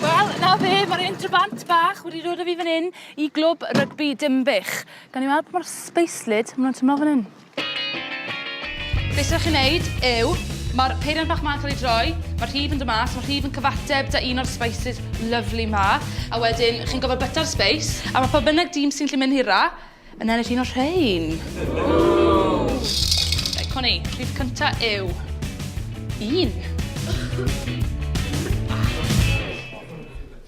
Wel, 'na fe, mae'r Entrobant bach wedi dod â fi fan hyn i Glwb Rygbi Dinbych. Gawn ni weld pa mor sbeislyd maen nhw'n tymlo fan hyn. Be sy'n chi'n neud yw, mae'r peiriant bach ma'n cael ei droi, mae'r rhif yn dod mas, mae'r rhif yn cyfateb da un o'r spices lovely ma, a wedyn chi'n gofod byta'r space, a mae pob bynnag dîm sy'n lli mynd hira yn ennill un o'r rhain. Reit, co ni, rhif cynta yw... un.